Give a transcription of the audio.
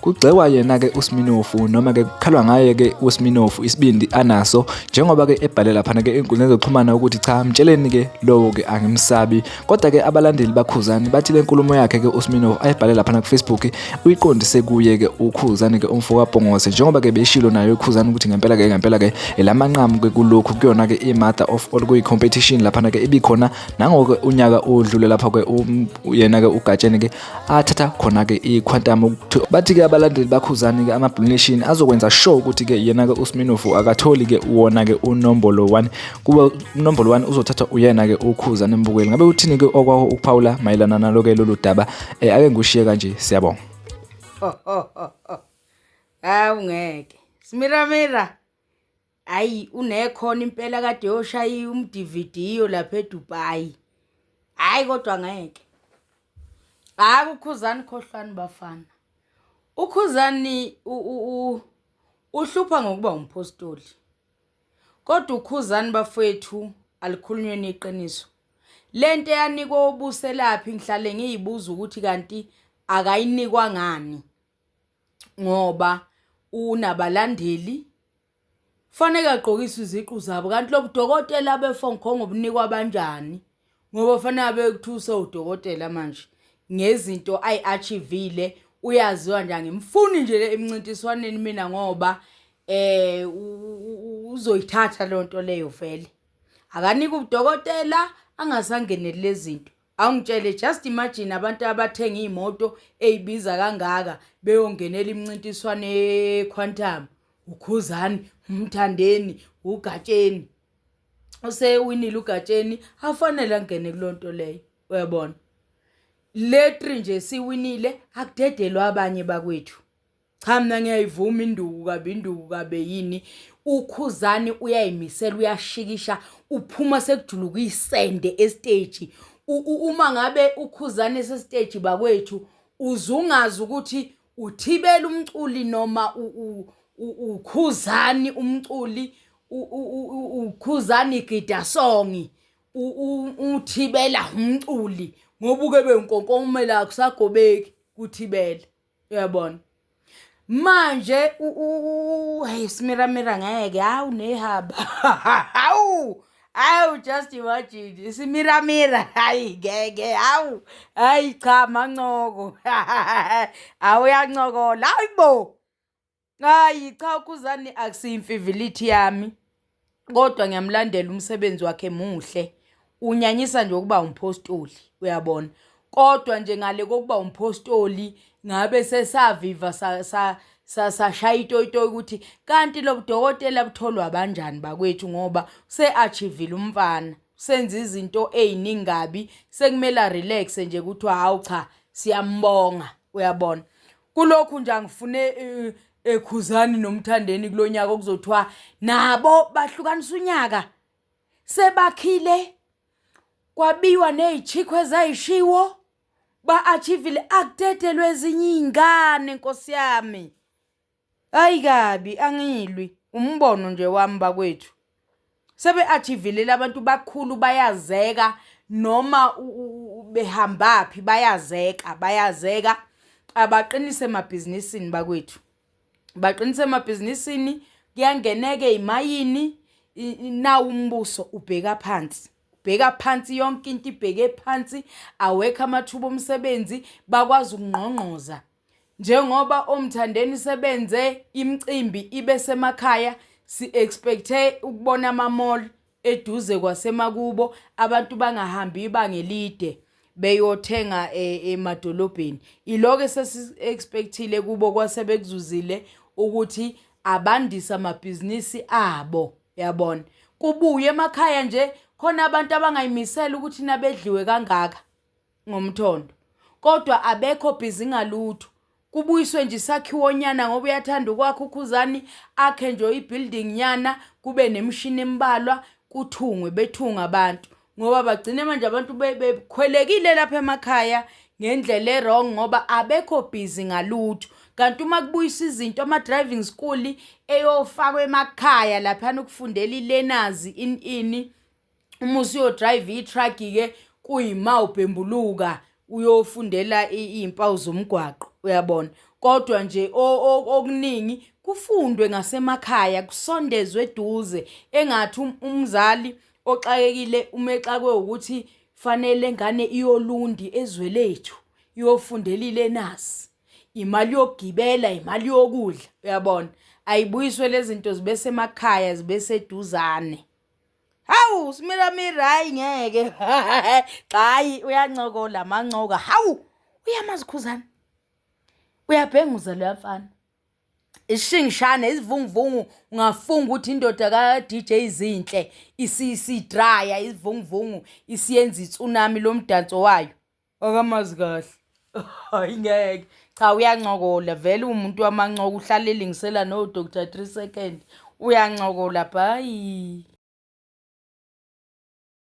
Kugxekwa yena-ke uSminofu noma-ke kukhalwa ngaye-ke uSminofu isibindi anaso njengoba-ke ebhale laphana-ke ey'nkundleni zokuxhumana ukuthi cha mtsheleni-ke lowo-ke angimsabi kodwa-ke abalandeli bakhuzani bathi le nkulumo yakhe-ke uSminofu ayibhale laphana kufacebook uyiqondise kuye-ke ukhuzani-ke umfo kabhongose njengoba-ke beyishilo nayo ikhuzani ukuthi ngempela-ke ngempela-ke elamanqamu-ke kulokhu kuyona-ke i-mother of all kuyi-competition laphana-ke ibikhona nangoke unyaka odlule lapho-ke um, yena-ke ugatsheni-ke athatha khona-ke i-quantum ukuthi bathi-ke abalandeli bakhuzani-ke ama-blue nation azokwenza sure ukuthi-ke yena-ke usminofu akatholi-ke wona-ke unombolo 1 kuba unombolo 1 uzothathwa uyena-ke ukhuzane mbukeli ngabe uthini-ke okwaho ukuphawula mayelana nalo-ke lolu daba um ake ngikushiye kanje siyabonga hawu ngeke smiramira Hayi unekhona impela kade yoshaya umDVDyo lapha eDubai. Hayi kodwa ngeke. Hayi kukhuzani khohlwani bafana. Ukhuzani uhlupha ngokuba umphostoli. Kodwa ukhuzani bafethu alikhulunywe neqiniso. Lento eyanikwa ubuselaphi ngihlale ngiyibuza ukuthi kanti akayinikwa ngani ngoba unabalandeli faneke agqokiswe iziqu zabo kanti lobudokotela befonkhongo bunikwa abanjani ngoba fanele bekuthuse udokotela manje ngezinto ayi-achivile uyaziwa nje angimfuni nje le emncintiswaneni mina ngoba eh uzoyithatha lento leyo vele akanika udokotela angasangeneli lezinto Awungitshele just imagine abantu abathenga imoto eyibiza kangaka beyongenela imncintiswano eQuantum uKhuzani uMthandeni uGatsheni usewinile uGatsheni afanele angene kulonto leyo uyabona letri nje siwinile akudedelwa abanye bakwethu cha mina ngiyayivuma induku kabi induku kabe yini ukhuzani uyayimisela uyashikisha uphuma sekujuluka isende estage uma ngabe ukhuzani sestage bakwethu uzungazi ukuthi uthibela umculi noma ukhuzani umculi ukhuzani gida songi uthibela umculi ngobuke benkonkomela kusagobeki kuthibela uyabona manje hey simiramira ngeke hawu nehaba hawu hawu just imagine simiramira hayi ngeke hawu hayi cha mancoko awuyancokola hayi bo Hayi cha uKhuzani akusiyimfivilithi yami kodwa ngiyamlandela umsebenzi wakhe muhle. Unyanyisa nje ukuba umphostoli uyabona. Kodwa nje ngale kokuba umphostoli ngabe sesaviva sashaya itoyitoyi ukuthi kanti lobudokotela butholwa banjani bakwethu ngoba se-achivile umfana. Senza izinto eziningi kabi sekumele relax nje kuthiwa hawu cha siyambonga uyabona. kulokhu nje angifune eh, ekhuzani nomthandeni kulonyaka okuzothiwa nabo bahlukanisa unyaka sebakhile kwabiwa nezichikho ezayishiwo ba-achievile akudedelwe ezinye iy'ngane nkosi yami hayi kabi angilwi umbono nje wami bakwethu sebe-achivilele abantu bakhulu bayazeka noma behambaphi bayazeka bayazeka abaqinise emabhizinisini bakwethu baqinise emabhizinisini kuyangeneke imayini nawu umbuso ubheka phansi bheka phansi yonke into ibheke phansi awekho amathuba omsebenzi bakwazi ukungqongqoza Njengoba omthandeni sebenze imicimbi ibe semakhaya si-expecthe ukubona ama-mall eduze kwasemakubo abantu bangahambi ibanga elide beyothenga e, emadolobheni iloke sesi-expecthile kubo kwase bekuzuzile ukuthi abandise amabhizinisi abo yabona kubuye emakhaya nje khona abantu abangayimisela ukuthi nabedliwe kangaka ngomthondo kodwa abekho busy ngalutho kubuyiswe nje isakhiwo nyana ngoba uyathanda ukwakha ukhuzani akhe nje ibuilding nyana kube nemshini embalwa kuthungwe bethunga abantu ngoba bagcine manje abantu bekhwelekile lapha emakhaya ngendlela erong ngoba abekho busy ngalutho kanti uma kubuyisa izinto ama driving school eyofakwa emakhaya lapha ukufundela ilenazi in ini uma usuyodrayiva ithraki-ke kuyima ubhembuluka uyofundela iy'mpawu zomgwaqo uyabona kodwa nje okuningi kufundwe ngasemakhaya kusondezwe eduze engathi um, umzali oxakekile umexakwe ukuthi fanele ngane iyolundi ezwe lethu iyofundela ilenasi imali yokugibela imali yokudla uyabona ayibuyiswe lezi zinto zibe semakhaya zibe seduzane Hawu simira mira hayi ngeke. Cha hayi uyancokola mancoka. Hawu uyamazi khuzana. Uyabhenguza lo mfana. Ishingishane izivunguvungu ungafunga ukuthi indoda ka DJ izinhle isidraya izivunguvungu isiyenza itsunami lomdanso wayo. akamazi kahle hayi ngeke cha uyancokola vele umuntu wamancoko uhlale elingisela no Dr 3 second uyancokola bhayi